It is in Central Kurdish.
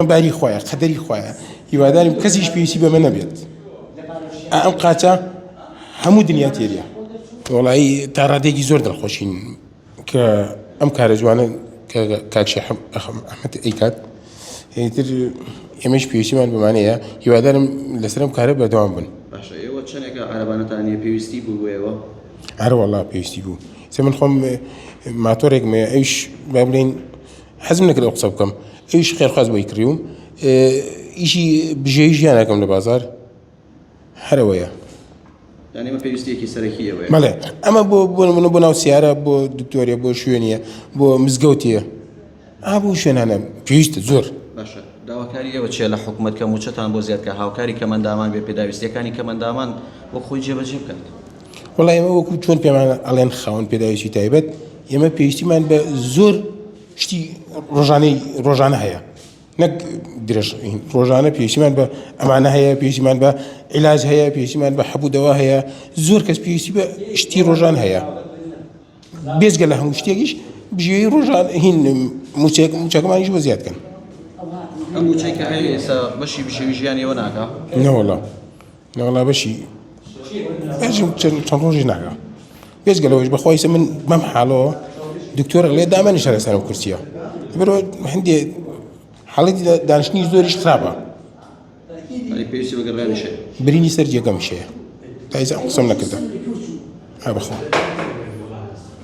باری خوایە قەدەری خوایە هیوادارم کەسیش پێویستی بەمە نەبێت ئەم قاچە هەموو دنیا تێریە وڵایی تا ڕادێکی زۆر دڵخۆشین کە ئەم کارە جوانە کە کاکشی ئەحمد ئەیکات هیتر ئێمەش پێویستیمان بمانەیە هیوادارم لەسرم کارە بەردەوام بن ئێوە چەندێکە عربانەتانە پێویستی بوو بۆیەوە هەروەڵا پێویستی بوو سە من خۆم ماتۆرێکمێ ئەوش بابلین حەزم نەکرد ئەو قسە بکەم ئەویش خێرخواز بۆی کڕیوم ئیشی بژێوی ژیان ناکەم لە بازار هەرەوەیە یعنی ئەمە پێویستیەکی سەرەکی ئەوەیە بەڵێ ئەمە بۆ بۆ نمونە بۆ ناو سیارە بۆ دکتۆریە بۆ شوێنیە بۆ مزگەوتیە ئا بۆ شوێنانە پێویستە زۆر باشە داواکاری ئێوە چیە لە حکوومەت کە موچەتان بۆ زیادکە هاوکاری کەمەندامان بێ پێداویستیەکانی کەمەندامان وەک خۆی جێبەجێ بکات وەڵا ئێمە وەکو چۆن پێمان ئەڵێن خاون پێداویستی تایبەت ئێمە پێویستیمان بە زۆر شتی ڕۆژانەی ڕۆژانە هەیە نەک درێژ ڕۆژانە پێویستیمان بە ئەمانە هەیە پێویستیمان بە عیلاج هەیە پێویستیمان بە حەبوودەوە هەیە زۆر کەس پێویستی بە شتی ڕۆژان هەیە بێزگە لە هەموو شتێکیش بژێ ڕۆژان هین موچێک موچەکەمانیش بە زیاد کەن ئەم موچەی کە هەیە ئێستا بەشی بژێوی ژیانیەوە ناکە نەوەڵام لەوەڵا بەشی چەند ڕۆژی ناگە بێز گەلەوەش بەخوایسە من بەم حاڵەوە دکتۆر لێ دامەنی شارە سەرم کورسیە برۆ هەندێ حاڵەتی دانیشتنی زۆریش خراپە برینی سەر جێگەم شەیە تایزە قسم نەکردم هە بخۆ